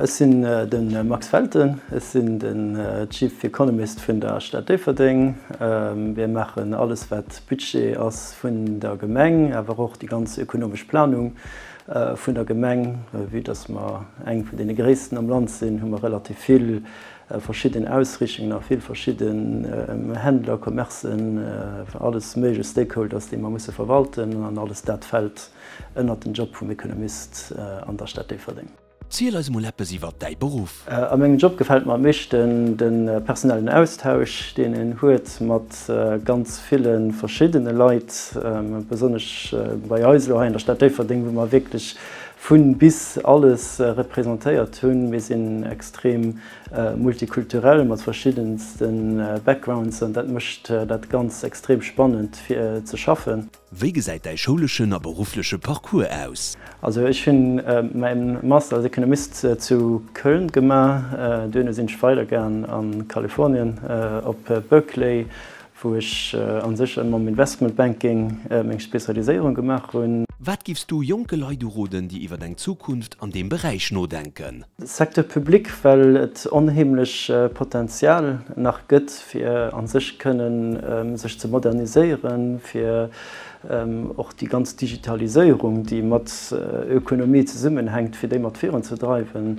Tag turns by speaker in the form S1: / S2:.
S1: Ech sinn de Max Felten, ech sinn de Chief Economist vun der Stad Déifferdeng. Mir maachen alles wat Budget ass vun der Gemeng, awer och déi ganz ökonomesch Planung vun der Gemeng. Vue datt mer eng vun deene gréissten am Land sinn, hu mer relativ vill verschidden Ausrichtungen a vill verschidden Händler, Commercen, alles méiglech Stakeholders, déi mer musse verwalten an alles dat fält Ënnert den Job vum Ekonomist an der Stad Déifferdeng. Ziel eis mol eppes iwwert däi Beruff. A mengem Job gefält mer am meeschten de personellen Austausch, deen een huet mat ganz ville verschiddene Leit, besonnesch bei eis elo hei an der Stad Déifferdeng, wou mer wierklech vun bis alles representéiert hunn. Mir sinn extrem multikulturell mat verschiddenste Backgrounds an dat mécht dat Ganzt extrem spannend fir ze schaffen. Wéi gesäit däi schouleschen a beruffleche Parcours aus? Also ech hunn mäin Master als Economist zu Köln gemaach, duerno sinn ech weider gaang an Kalifornien op Berkeley wou ech an sech ëmmer am Investment Banking meng Spezialiséierung gemaach hunn. Wat giffs du jonke Leit uroden déi iwwert eng Zukunft an deem Beräich nodenken? Secteur public, well et onheemlech Potenzial nach gëtt, fir a sech kënnen sech ze moderniséieren, fir och déi ganz Digitaliséierung, déi mat Ökonomie zesummenhänkt, fir déi mat virun ze dreiwen.